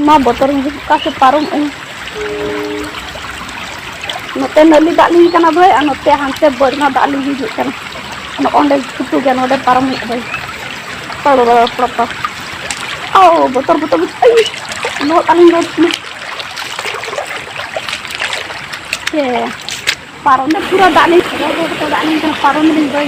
ᱢᱟ ᱵᱚᱛᱚᱨ ᱦᱤᱡᱩᱜ ᱚᱠᱟ ᱥᱮ ᱯᱟᱨᱚᱢᱚᱜ ᱟᱹᱧ ᱱᱚᱛᱮ ᱱᱟᱹᱞᱤ ᱫᱟᱜ ᱞᱤᱧ ᱠᱟᱱᱟ ᱵᱷᱟᱹᱭ ᱟᱨ ᱱᱚᱛᱮ ᱦᱟᱱᱛᱮ ᱵᱟᱹᱨᱢᱟ ᱫᱟᱜ ᱞᱤᱧ ᱦᱤᱡᱩᱜ ᱠᱟᱱᱟ ᱱᱚᱜᱼᱚᱸᱰᱮ ᱪᱷᱩᱴᱩ ᱜᱮ ᱱᱚᱰᱮ ᱯᱟᱨᱚᱢ ᱦᱩᱭᱩᱜᱼᱟ ᱵᱷᱟᱹᱭ ᱯᱟᱲᱚ ᱵᱟᱲᱟ ᱯᱟᱲᱚ ᱯᱟᱲᱚ ᱳ ᱵᱚᱛᱚᱨ ᱵᱚᱛᱚᱨ ᱟᱭ ᱞᱚᱦᱚᱫ ᱟᱹᱞᱤᱧ ᱞᱚᱦᱚᱫ ᱠᱟᱱᱟ ᱥᱮ ᱯᱟᱨᱚᱢ ᱫᱚ ᱯᱩᱨᱟᱹ ᱫᱟᱜ ᱞᱤᱧ ᱫᱟᱜ ᱞᱤᱧ ᱠᱟᱱᱟ ᱯᱟᱨᱚᱢ ᱞᱤᱧ ᱵᱷᱟᱹᱭ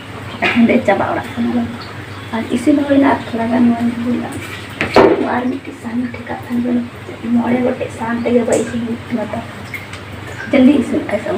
ᱮᱠᱷᱚᱱ ᱫᱚ ᱪᱟᱵᱟ ᱚᱲᱟᱜ ᱠᱟᱱᱟ ᱞᱮ ᱟᱨ ᱤᱥᱤᱱ ᱦᱩᱭᱱᱟ ᱟᱨ ᱛᱷᱚᱲᱟ ᱜᱟᱱ ᱢᱚᱱ ᱦᱩᱭᱱᱟ ᱟᱨ ᱢᱤᱫᱴᱤᱡ ᱥᱟᱦᱟᱱ ᱴᱷᱮᱠᱟᱜ ᱠᱟᱱ ᱫᱚ ᱢᱚᱬᱮ ᱜᱚᱴᱮᱡ ᱥᱟᱦᱟᱱ ᱛᱮᱜᱮ ᱵᱟᱭ ᱤᱥᱤᱱ ᱦᱩᱭᱩᱜ ᱠᱟᱱᱟ ᱛᱚ ᱡᱚᱞᱫᱤ ᱤᱥᱤᱱ ᱠᱟᱭ ᱥᱟᱢ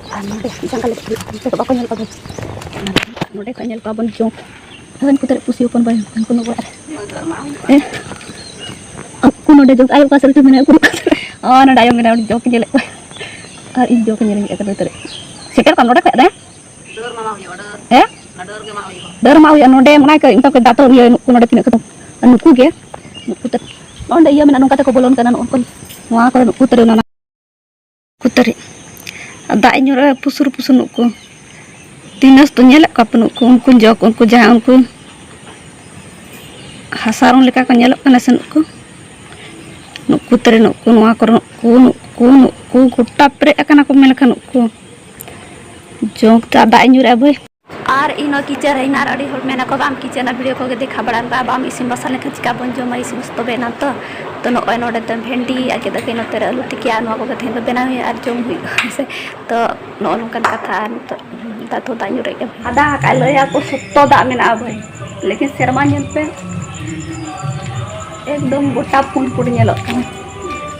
ᱟᱨ ᱱᱚᱰᱮ ᱡᱟᱸᱜᱟ ᱞᱮᱵᱮᱫ ᱦᱩᱭᱩᱜᱼᱟ ᱚᱱᱛᱮ ᱫᱚ ᱵᱟᱠᱚ ᱧᱮᱞ ᱠᱚᱣᱟ ᱱᱚᱰᱮ ᱠᱚ ᱧᱮᱞ ᱠᱚᱣᱟ ᱵᱚᱱ ᱪᱚᱝ ᱦᱟᱹᱱ ᱠᱚ ᱛᱟᱹᱨᱩᱵ ᱯᱩᱥᱤ ᱦᱚᱯᱚᱱ ᱵᱟᱭ ᱦᱚᱯᱚᱱ ᱠᱚ ᱱᱚᱜᱚᱲ ᱦᱮᱸ ᱟᱠᱚ ᱱᱚᱰᱮ ᱡᱚᱜ ᱟᱭᱳ ᱚᱠᱟ ᱥᱮᱫ ᱨᱮᱪᱚ ᱢᱮᱱᱟᱭᱟ ᱩᱠᱩᱨ ᱚᱠᱟ ᱥᱮᱫ ᱟᱨ ᱱᱚᱰᱮ ᱟᱭᱳ ᱢᱮᱱᱟᱭᱟ ᱩᱱᱤ ᱡᱚᱜ ᱧᱮᱞᱮᱫ ᱠᱚᱣᱟ ᱟᱨ ᱤᱧ ᱡᱚᱜ ᱧᱮᱞ ᱦᱮᱡ ᱟᱠᱟᱱᱟ ᱛᱟᱹᱨᱩᱵ ᱥᱮᱴᱮᱨ ᱠᱟᱱ ᱱᱚᱰᱮ ᱠᱷᱚᱡ ᱫᱮ ᱦᱮᱸ ᱰᱟᱹᱨ ᱢᱟ ᱦᱩᱭᱩᱜᱼᱟ ᱱᱚᱰᱮ ᱢᱮᱱᱟᱭ ᱠᱚ ᱢᱮᱛᱟ ᱠᱚ ᱫᱟᱛᱚ ᱤᱭᱟᱹ ᱱᱩᱠᱩ ᱱᱚᱰᱮ ᱛᱤᱱᱟᱹᱜ ᱠᱚ ᱱᱩᱠᱩ ᱜᱮ ᱱᱩᱠᱩ ᱛᱟᱹᱨᱩᱵ ᱚᱸᱰᱮ ᱤᱭᱟᱹ ᱢᱮᱱᱟᱜᱼᱟ ᱱᱚᱝᱠᱟ ᱛᱮᱠᱚ ᱵᱚᱞᱚᱱ ᱠᱟᱱᱟ ᱱᱚᱜᱼᱚ ᱱᱚᱣᱟ ᱠᱚᱨᱮ ᱱᱩᱠᱩ ᱛᱟᱹᱨᱩᱵ ᱠᱩᱛᱟᱹᱨᱤ ᱫᱟᱜ ᱤᱧ ᱧᱩᱨᱟᱹ ᱯᱩᱥᱩᱨ ᱯᱩᱥᱩᱨ ᱱᱩᱜ ᱠᱚ ᱛᱤᱱᱟᱹᱥ ᱫᱚ ᱧᱮᱞᱮᱫ ᱠᱚᱣᱟ ᱯᱮ ᱱᱩᱜ ᱠᱚ ᱩᱱᱠᱩ ᱡᱚᱠ ᱩᱱᱠᱩ ᱡᱟᱦᱟᱸ ᱩᱱᱠᱩ ᱦᱟᱥᱟ ᱨᱚᱝ ᱞᱮᱠᱟ ᱠᱚ ᱧᱮᱞᱚᱜ ᱠᱟᱱᱟ ᱥᱮ ᱱᱩᱜ ᱠᱚ ᱱᱩᱜ ᱠᱚ ᱛᱟᱹᱨᱤ ᱱᱩᱜ ᱠᱚ ᱱᱚᱣᱟ ᱠᱚᱨᱮ ᱱᱩᱜ ᱠᱚ ᱱᱩᱜ ᱠᱚ ᱱᱩᱜ ᱠᱚ ᱜᱚᱴᱟ ᱯᱮᱨᱮᱡ ᱟᱠᱟᱱᱟ ᱠᱚ ᱢᱮᱱ ᱞᱮᱠᱷᱟᱱ ᱱᱩᱜ ᱠᱚ ᱡᱚᱠ ᱫᱟᱜ ᱤᱧ ᱧᱩᱨᱟᱹ ᱵᱷᱟᱹᱭ ᱟᱨ ᱤᱧ ᱱᱚᱣᱟ ᱠᱤᱪᱮᱱ ᱨᱮ ᱦᱮᱱᱟᱜ ᱟᱨ ᱟᱹᱰᱤ ᱦᱚᱲ ᱢᱮᱱᱟᱠᱚ ᱵᱟᱢ ᱠᱤᱪᱮᱱᱟ ᱵᱷᱤᱰᱤᱭᱳ ᱠᱚᱜᱮ ᱫᱮᱠᱷᱟᱣ ᱵᱟᱲᱟᱭ ᱢᱮ ᱵᱟᱢ ᱤᱥᱤᱱ ᱵᱟᱥᱟᱝ ᱞᱮᱠᱷᱟᱱ ᱪᱤᱠᱟ ᱵᱚᱱ ᱡᱚᱢᱟ ᱤᱥᱤᱱ ᱵᱟᱥᱟᱝ ᱛᱚᱵᱮ ᱮᱱᱟᱝ ᱛᱚ ᱛᱚ ᱱᱚᱜᱼᱚᱭ ᱱᱚᱰᱮ ᱫᱚ ᱵᱷᱮᱱᱰᱤ ᱟᱨ ᱜᱮᱫ ᱟᱹᱠᱤᱱ ᱱᱚᱛᱮ ᱨᱮ ᱟᱹᱞᱩ ᱛᱤᱠᱤ ᱟᱨ ᱱᱚᱣᱟ ᱠᱚᱜᱮ ᱛᱮᱦᱮᱧ ᱫᱚ ᱵᱮᱱᱟᱣ ᱦᱩᱭᱩᱜᱼᱟ ᱟᱨ ᱡᱚᱢ ᱦᱩᱭᱩᱜᱼᱟ ᱦᱮᱸ ᱥᱮ ᱛᱚ ᱱᱚᱜᱼᱚ ᱱᱚᱝᱠᱟᱱ ᱠᱟᱛᱷᱟ ᱟᱨ ᱱᱤᱛᱚᱜ ᱫᱟᱜ ᱫᱚ ᱫᱟᱜ ᱧᱩᱨᱮᱫ ᱜᱮᱭᱟ ᱟᱫᱟ ᱟᱠᱟᱫ ᱞᱟᱹᱭᱟᱠᱚ ᱥᱚᱠᱛᱚ ᱫᱟᱜ ᱢᱮᱱᱟᱜᱼᱟ ᱵᱷᱟᱹᱭ ᱞᱮᱠᱤᱱ ᱥᱮᱨᱢᱟ ᱧᱮᱞ ᱯᱮ ᱮᱠᱫᱚᱢ ᱜᱚᱴᱟ ᱯᱩᱸᱰ ᱯᱩᱸᱰ ᱧᱮᱞᱚᱜ ᱠᱟᱱᱟ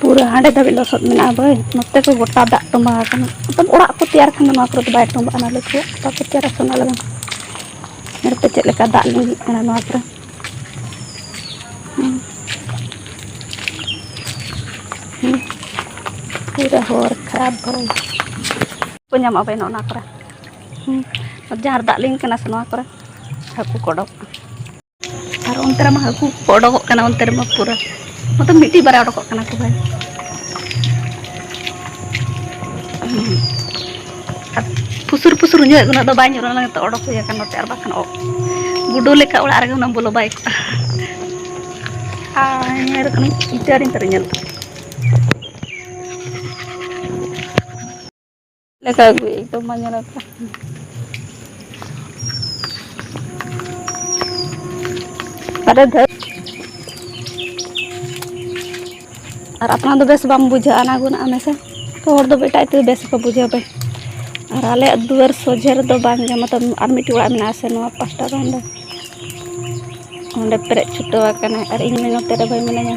ᱯᱩᱨᱟᱹ ᱦᱟᱸᱰᱮ ᱫᱷᱟᱹᱵᱤᱡ ᱞᱚᱥᱚᱫ ᱢᱮᱱᱟᱜᱼᱟ ᱵᱟᱹᱭ ᱱᱚᱛᱮ ᱠᱚ ᱜᱚᱴᱟ ᱫᱟᱜ ᱛᱚᱸᱵᱟ ᱟᱠᱟᱱᱟ ᱢᱚᱛᱞᱚᱵ ᱚᱲᱟᱜ ᱠᱚ ᱛᱮᱭᱟᱨ ᱠᱷᱟᱱ ᱫᱚ ᱱᱚᱣᱟ ᱠᱚᱨᱮ ᱫᱚ ᱵᱟᱭ ᱛᱚᱸᱵᱟᱜᱼᱟ ᱱᱟᱹᱞᱤ ᱠᱚ ᱚᱠᱟ ᱠᱚ ᱛᱮᱭᱟᱨᱟ ᱥᱮ ᱚᱱᱟ ᱞᱟᱹᱜᱤᱫ ᱧᱮᱞ ᱯᱮ ᱪᱮᱫ ᱞᱮᱠᱟ ᱫᱟᱜ ᱞᱤᱸᱜᱤᱜ ᱠᱟᱱᱟ ᱱᱚᱣᱟ ᱠᱚᱨᱮ ᱯᱩᱨᱟᱹ ᱦᱚᱨ ᱠᱷᱟᱨᱟᱯ ᱵᱟᱹᱭ ᱠᱚ ᱧᱟᱢᱚᱜᱼᱟ ᱵᱟᱹᱭ ᱱᱚᱜᱼᱚ ᱱᱚᱣᱟ ᱠᱚᱨᱮ ᱡᱟᱦᱟᱸ ᱨᱮ ᱫᱟᱜ ᱞᱤᱸᱜᱤ ᱠᱟᱱᱟ ᱥᱮ ᱱᱚᱣᱟ ᱠᱚᱨᱮ ᱦᱟᱹᱠᱩ ᱠᱚ ᱚᱰᱚᱠᱚᱜᱼᱟ ᱟᱨ ᱚᱱᱛᱮ ᱨᱮᱢᱟ ᱦᱟᱹᱠᱩ ᱠᱚ ᱚᱰᱚᱠᱚᱜ ᱠᱟᱱᱟ ᱚᱱᱛᱮ ᱨᱮᱢᱟ ᱯᱩᱨᱟᱹ ᱢᱚᱛᱞᱚᱵ ᱢᱤᱫᱴᱤᱡ ᱵᱟᱨᱭᱟ ᱚᱰᱚᱠᱚᱜ ᱠᱟᱱᱟ ᱠᱚ ᱵᱷᱟᱭ ᱟᱨ ᱯᱩᱥᱩᱨ ᱯᱩᱥᱩᱨ ᱧᱚᱜ ᱩᱱᱟᱹᱜ ᱫᱚ ᱵᱟᱭ ᱧᱩᱨ ᱞᱮᱱᱟ ᱱᱤᱛᱚᱜ ᱚᱰᱚᱠ ᱦᱩᱭ ᱟᱠᱟᱱ ᱱᱚᱛᱮ ᱟᱨ ᱵᱟᱠᱷᱟᱱ ᱜᱩᱰᱩ ᱞᱮᱠᱟ ᱚᱲᱟᱜ ᱨᱮᱜᱮ ᱩᱱᱟᱹᱜ ᱵᱚᱞᱚ ᱵᱟᱭ ᱠᱚᱜᱼᱟ ᱟᱨ ᱧᱮᱞ ᱠᱟᱱᱟ ᱤᱴᱟᱹᱨᱤᱧ ᱛᱟᱨᱮ ᱧᱮᱞ ᱞᱮᱠᱟ ᱟᱹᱜᱩᱭ ᱮᱠᱫᱚᱢ ᱵᱟᱝ ᱧᱮᱞᱚᱜ ᱠᱟᱱᱟ ᱟᱨᱮ ᱫᱷᱟᱹᱴ ᱟᱨ ᱟᱯᱱᱟᱨ ᱫᱚ ᱵᱮᱥ ᱵᱟᱢ ᱵᱩᱡᱷᱟᱹᱜᱼᱟ ᱚᱱᱟ ᱜᱩᱱᱟᱹᱜ ᱟᱢ ᱦᱮᱥᱮ ᱛᱚ ᱦᱚᱲ ᱫᱚ ᱮᱴᱟᱜ ᱛᱮᱫᱚ ᱵᱮᱥ ᱠᱚ ᱵᱩᱡᱷᱟᱹᱣ ᱯᱮ ᱟᱨ ᱟᱞᱮᱭᱟᱜ ᱫᱩᱣᱟᱹᱨ ᱥᱚᱡᱷᱮ ᱨᱮᱫᱚ ᱵᱟᱝ ᱜᱮ ᱢᱚᱛᱞᱚᱵ ᱟᱨ ᱢᱤᱫᱴᱤᱡ ᱚᱲᱟᱜ ᱢᱮᱱᱟᱜ ᱟᱥᱮ ᱱᱚᱣᱟ ᱯᱟᱥᱴᱟ ᱫᱚ ᱚᱸᱰᱮ ᱚᱸᱰᱮ ᱯᱮᱨᱮᱡ ᱪᱷᱩᱴᱟᱹᱣ ᱟᱠᱟᱱᱟ ᱟᱨ ᱤᱧ ᱢᱟ ᱱᱚᱛᱮ ᱨᱮ ᱵᱟᱹᱧ ᱢᱤᱱᱟᱹᱧᱟ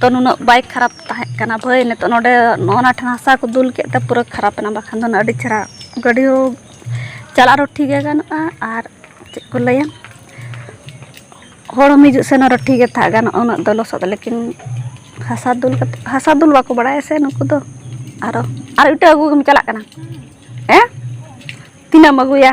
ᱛᱚ ᱱᱩᱱᱟᱹᱜ ᱵᱟᱭ ᱠᱷᱟᱨᱟᱯ ᱛᱟᱦᱮᱸ ᱠᱟᱱᱟ ᱵᱷᱟᱹᱭ ᱱᱤᱛᱚᱜ ᱱᱚᱰᱮ ᱱᱚᱜᱼᱚ ᱱᱚᱣᱟ ᱴᱷᱮᱱ ᱦᱟᱥᱟ ᱠᱚ ᱫᱩᱞ ᱠᱮᱫ ᱛᱮ ᱯᱩᱨᱟᱹ ᱠᱷᱟᱨᱟᱯ ᱮᱱᱟ ᱵᱟᱠᱷᱟᱱ ᱫᱚ ᱟᱹᱰᱤ ᱪᱮᱦᱨᱟ ᱜᱟᱹᱰᱤ ᱦᱚᱸ ᱪᱟᱞᱟᱜ ᱨᱮᱦᱚᱸ ᱴᱷᱤᱠ ᱜᱮ ᱜᱟᱱᱚᱜᱼᱟ ᱟᱨ ᱪᱮᱫ ᱠᱚ ᱞᱟᱹᱭᱟ ᱦᱚᱲ ᱦᱚᱸ ᱦᱤᱡᱩᱜ ᱥᱮᱱᱚᱜ ᱨᱮ ᱴᱷᱤᱠ ᱜᱮ ᱛᱟᱦᱮᱸ ᱜᱟᱱᱚᱜᱼᱟ ᱩᱱᱟᱹᱜ ᱫᱚ ᱞᱚᱥᱚᱫ ᱞᱮᱠᱤᱱ ᱦᱟᱥᱟ ᱫᱩᱞ ᱠᱟᱛᱮᱫ ᱦᱟᱥᱟ ᱫᱩᱞ ᱵᱟᱠᱚ ᱵᱟᱲᱟᱭᱟ ᱥᱮ ᱱᱩᱠᱩ ᱫᱚ ᱟᱨᱚ ᱟᱨ ᱤᱴᱟᱹ ᱟᱹᱜᱩ ᱜᱮᱢ ᱪᱟᱞᱟᱜ ᱠᱟᱱᱟ ᱦᱮᱸ ᱛᱤᱱᱟᱹᱜ ᱮᱢ ᱟᱹᱜᱩᱭᱟ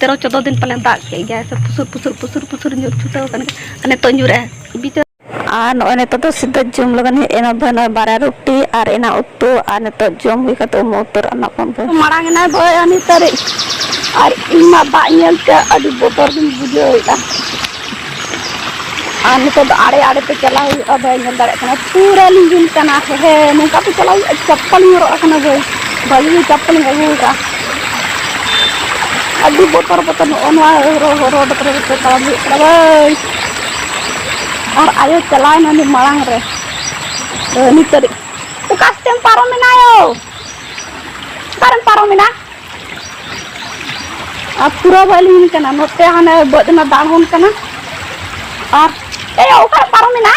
ᱛᱮᱨᱚ ᱪᱚᱫᱫᱚ ᱫᱤᱱ ᱯᱟᱞᱮ ᱫᱟᱜ ᱠᱮᱫ ᱜᱮᱭᱟᱭ ᱥᱮ ᱯᱩᱥᱩᱨ ᱯᱩᱥᱩᱨ ᱯᱩᱥᱩᱨ ᱯᱩᱥᱩᱨ ᱧᱩᱨ ᱪᱷᱩᱴᱟᱹᱣ ᱟᱠᱟᱱ ᱜᱮᱭᱟ ᱟᱨ ᱱᱤᱛᱚᱜ ᱧᱩᱨᱮᱜᱼᱟ ᱵᱤᱪᱟᱹᱨ ᱟᱨ ᱱᱚᱜᱼᱚᱭ ᱱᱤᱛᱚᱜ ᱫᱚ ᱥᱤᱫᱷᱟᱹ ᱡᱚᱢ ᱞᱟᱹᱜᱤᱫ ᱦᱮᱡ ᱮᱱᱟ ᱵᱷᱟᱹᱭ ᱱᱚᱜᱼᱚᱭ ᱵᱟᱨᱭᱟ ᱨᱩᱴᱤ ᱟᱨ ᱮᱱᱟᱱ ᱩᱛᱩ ᱟᱨ ᱱᱤᱛᱚᱜ ᱡᱚᱢ ᱦᱩᱭ ᱠᱟᱛᱮ ᱩᱢᱩ ᱩᱛᱟᱹᱨ ᱟᱱᱟ ᱠᱚ ᱵᱷᱟᱹᱭ ᱢᱟᱲᱟᱝ ᱮᱱᱟᱭ ᱵᱷᱟᱹᱭ ᱟᱨ ᱱᱤᱛᱚᱜ ᱟᱨ ᱤᱧ ᱢᱟ ᱫᱟᱜ ᱧᱮᱞ ᱛᱮ ᱟᱹᱰᱤ ᱵᱚᱛᱚᱨ ᱜᱤᱧ ᱵᱩᱡᱷᱟᱹᱣᱮᱫᱼᱟ ᱟᱨ ᱱᱤᱛᱚᱜ ᱫᱚ ᱟᱲᱮ ᱟᱲᱮ ᱛᱮ ᱪᱟᱞᱟᱣ ᱦᱩᱭᱩᱜᱼᱟ ᱵᱟᱹᱧ ᱧᱮᱞ ᱫᱟᱲᱮᱭᱟᱜ ᱠᱟᱱᱟ ᱯᱩᱨᱟᱹ ᱞᱤᱸᱡᱤᱱ ᱠᱟᱱᱟ ᱦᱮ ᱱᱚᱝᱠᱟ ᱛᱮ ᱪᱟᱞᱟᱣ ᱦᱩᱭᱩᱜᱼᱟ ᱪᱟᱯᱯᱟᱞᱤᱧ ᱦᱚᱨᱚᱜ ᱟᱠᱟᱱᱟ ᱵᱷᱟᱹᱭ ᱵᱷᱟᱹᱜᱤ ᱜᱮ ᱪᱟᱯᱯᱟᱞᱤᱧ ᱟᱹᱜᱩ ᱟᱠᱟᱫᱼᱟ ᱟᱹᱰᱤ ᱵᱚᱛᱚᱨ ᱵᱚᱛᱚᱨ ᱱᱚᱜᱼᱚ ᱱᱚᱣᱟ ᱨᱳᱰ ᱠᱚᱨᱮ ᱛᱮ ᱛᱟᱲᱟᱢ ᱦᱩᱭᱩᱜ ᱠᱟᱱᱟ ᱵᱷᱟᱹᱭ ᱟᱨ ᱟᱭᱳ ᱪᱟᱞᱟᱣᱮᱱᱟ ᱩᱱᱤ ᱢᱟᱲᱟᱝ ᱨᱮ ᱱᱤᱛ ᱫᱷᱟᱹᱨᱤᱡ ᱚᱠᱟ ᱥᱮᱫ ᱛᱮᱢ ᱯᱟᱨᱚᱢᱮᱱᱟ ᱭᱳ ᱚᱠᱟᱨᱮᱢ ᱯᱟᱨᱚᱢᱮᱱᱟ ᱟᱨ ᱯᱩᱨᱟᱹ ᱵᱟᱭ ᱞᱤᱸᱜᱤᱱ ᱠᱟᱱᱟ ᱱᱚᱛᱮ ᱦᱟᱱᱮ ᱵᱟᱹᱫᱽ ᱨᱮᱱᱟᱜ ᱫᱟᱜ ᱦᱚᱱ ᱠᱟᱱᱟ ᱟᱨ ᱮ ᱚᱠᱟᱨᱮ ᱯᱟᱨᱚᱢ ᱮᱱᱟ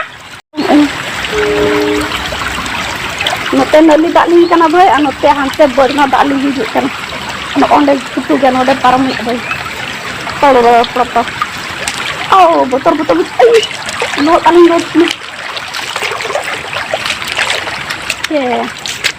ᱱᱚᱛᱮ ᱱᱟᱹᱞᱤ ᱫᱟᱜ ᱞᱤᱸᱜᱤ ᱠᱟᱱᱟ ᱵᱷᱟᱹᱭ ᱟᱨ ᱱᱚᱛᱮ ᱦᱟᱱᱛᱮ ᱵᱟᱹᱫᱽ ᱨᱮᱱᱟᱜ ᱫᱟᱜ ᱞᱤᱸᱜᱤ ᱦᱤᱡᱩᱜ ᱠᱟᱱᱟ ᱱᱚᱜᱼᱚᱸᱰᱮ ᱠᱩᱴᱩ ᱜᱮ ᱱᱚᱰᱮ ᱯᱟᱨᱚᱢ ᱦᱩᱭᱩᱜᱼᱟ ᱵᱷᱟᱹᱭ ᱯᱟᱲᱚ ᱵᱟᱲᱟ ᱯᱟᱲᱚ ᱯᱟᱲᱚ ᱳ ᱵᱚᱛᱚᱨ ᱵᱚᱛᱚᱨ ᱵᱚᱛᱚᱨ ᱞᱚᱦᱚᱫ ᱟᱹᱞᱤᱧ ᱞᱚᱦᱚᱫ ᱪᱮ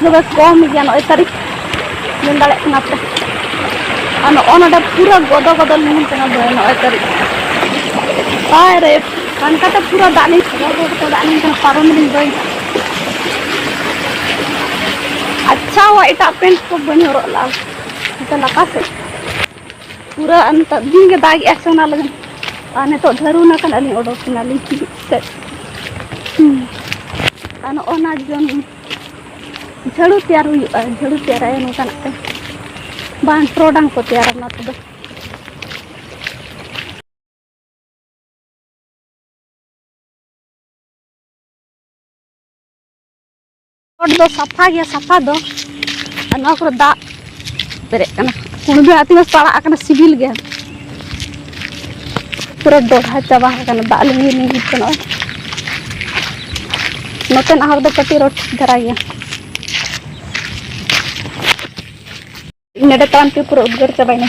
ᱛᱚᱵᱮ ᱠᱚᱢ ᱜᱮᱭᱟ ᱱᱚᱜᱼᱚᱭ ᱛᱟᱹᱨᱤᱠᱷ ᱧᱮᱞ ᱫᱟᱲᱮᱭᱟᱜ ᱠᱟᱱᱟ ᱯᱮ ᱟᱨ ᱱᱚᱜᱼᱚ ᱱᱚᱰᱮ ᱯᱩᱨᱟᱹ ᱜᱚᱫᱚ ᱜᱚᱫᱚ ᱞᱤᱸᱜᱤᱱ ᱠᱟᱱᱟ ᱵᱚᱭ ᱱᱚᱜᱼᱚᱭ ᱛᱟᱹᱨᱤᱠᱷ ᱵᱟᱭ ᱨᱮ ᱚᱱᱠᱟᱛᱮ ᱯᱩᱨᱟᱹ ᱫᱟᱜ ᱞᱤᱧ ᱥᱟᱵᱟ ᱵᱚ ᱠᱟᱛᱮ ᱫᱟᱜ ᱞᱤᱧ ᱠᱟᱱᱟ ᱯᱟᱨᱚᱢ ᱞᱤᱧ ᱵᱟᱹᱧ ᱟᱪᱪᱷᱟ ᱦᱚᱸ ᱮᱴᱟᱜ ᱯᱮᱱᱴ ᱠᱚ ᱵᱟᱹᱧ ᱦᱚᱨᱚᱜ ᱞᱟᱜᱼᱟ ᱱᱚᱛᱮ ᱞᱟᱛᱟᱨ ᱥᱮᱫ ᱯᱩᱨᱟᱹ ᱱᱤᱛᱚᱜ ᱫᱤᱱ ᱜᱮ ᱫᱟᱜ ᱮᱜᱼᱟ ᱥᱮ ᱚᱱᱟ ᱞᱟᱹᱜᱤᱫ ᱟᱨ ᱱᱤᱛᱚᱜ ᱫᱷᱟᱹᱨᱩᱱᱟ ᱠᱟᱱᱟ ᱞᱤᱧ ᱚᱰᱚᱠ ᱠᱟᱱᱟᱞᱤᱧ ᱥᱮᱫ ᱟᱨ ᱱᱚᱜᱼᱚ ᱱᱟ ᱡᱚᱱ ᱡᱷᱟᱹᱲᱩ ᱛᱮᱭᱟᱨ ᱦᱩᱭᱩᱜᱼᱟ ᱡᱷᱟᱹᱲᱩ ᱛᱮᱭᱟᱨᱟᱭᱟ ᱱᱚᱝᱠᱟᱱᱟᱜ ᱛᱮ ᱵᱟᱝ ᱴᱚᱨᱚᱰᱟᱝ ᱠᱚ ᱛᱮᱭᱟᱨᱟ ᱚᱱᱟ ᱛᱮᱫᱚ ᱨᱳᱰ ᱫᱚ ᱥᱟᱯᱷᱟ ᱜᱮᱭᱟ ᱥᱟᱯᱷᱟ ᱫᱚ ᱟᱨ ᱱᱚᱣᱟ ᱠᱚᱨᱮ ᱫᱟᱜ ᱯᱮᱨᱮᱡ ᱠᱟᱱᱟ ᱠᱩᱬᱵᱤ ᱟᱜ ᱛᱤᱱᱟᱹᱜ ᱯᱟᱲᱟᱜ ᱟᱠᱟᱱᱟ ᱥᱤᱵᱤᱞ ᱜᱮ ᱯᱩᱨᱟᱹ ᱫᱚᱲᱦᱟ ᱪᱟᱵᱟ ᱟᱠᱟᱱᱟ ᱫᱟᱜ ᱞᱤᱸᱜᱤ ᱞᱤᱸᱜᱤ ᱠᱟᱱᱟ ᱱᱚᱛᱮᱱᱟᱜ ᱦᱚᱨ ᱫᱚ ᱠᱟᱹᱴᱤᱡ ᱨᱚᱴ ᱫᱷᱟᱨᱟ ᱜᱮᱭᱟ ᱱᱚᱰᱮ ᱛᱟᱲᱟᱢ ᱛᱮ ᱯᱩᱨᱟᱹ ᱩᱫᱽᱜᱟᱹᱨ ᱪᱟᱵᱟᱭᱮᱱᱟ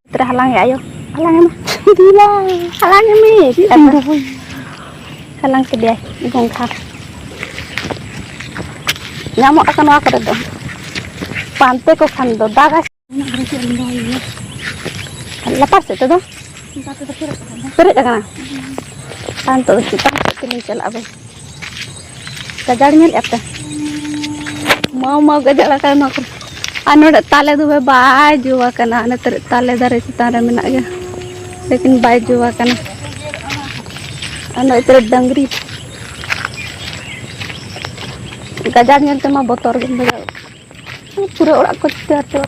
ᱛᱮᱨᱮ ᱦᱟᱞᱟᱝ ᱟᱭᱳ ᱦᱟᱞᱟᱝ ᱮᱢ ᱫᱤᱞᱟ ᱦᱟᱞᱟᱝ ᱮᱢᱮ ᱦᱟᱞᱟᱝ ᱠᱮᱫᱮᱭᱟᱭ ᱜᱚᱝᱜᱷᱟ ᱧᱟᱢᱚᱜ ᱟᱠᱚ ᱱᱚᱣᱟ ᱠᱚᱨᱮ ᱫᱚ ᱯᱟᱱᱛᱮ ᱠᱚ ᱠᱷᱟᱱ ᱫᱚ ᱫᱟᱜᱟᱭ ᱞᱟᱛᱟᱨ ᱥᱮᱫ ᱛᱮᱫᱚ ᱯᱮᱨᱮᱡ ᱟᱠᱟᱱᱟ ᱟᱨ ᱱᱤᱛᱚᱜ ᱫᱚ ᱪᱮᱛᱟᱱ ᱥᱮᱫ ᱛᱮᱞᱤᱧ ᱪᱟᱞᱟᱜᱼᱟ ᱵᱮᱥ ᱜᱟᱡᱟᱲ ᱧᱮᱞ ᱟᱯᱮ ᱢᱟᱣ ᱢᱟᱣ ᱜᱟᱡᱟᱲ ᱟᱠᱟᱱ ᱱᱚᱣᱟ ᱠᱚᱨᱮ ᱟᱨ ᱱᱚᱰᱮ ᱛᱟᱞᱮ ᱫᱚᱵᱮ ᱵᱟᱭ ᱡᱚ ᱟᱠᱟᱱᱟ ᱱᱮᱛᱟᱨ ᱛᱟᱞᱮ ᱫᱟᱨᱮ ᱪᱮᱛᱟᱱ ᱨᱮ ᱢᱮᱱᱟᱜ ᱜᱮᱭᱟ ᱞᱮᱠᱤᱱ ᱵᱟᱭ ᱡᱚ ᱟᱠᱟᱱᱟ ᱟᱨ ᱱᱚᱜᱼᱚᱭ ᱛᱮᱨᱮ ᱰᱟᱝᱨᱤ ᱜᱟᱡᱟᱲ ᱧᱮᱞ ᱛᱮᱢᱟ ᱵᱚᱛᱚᱨ ᱜᱮᱢ ᱵᱩᱡᱷᱟᱹᱣ ᱯᱩᱨᱟᱹ ᱚᱲᱟᱜ ᱠᱚ ᱪᱤᱛᱟᱹᱨ ᱪᱟᱵᱟ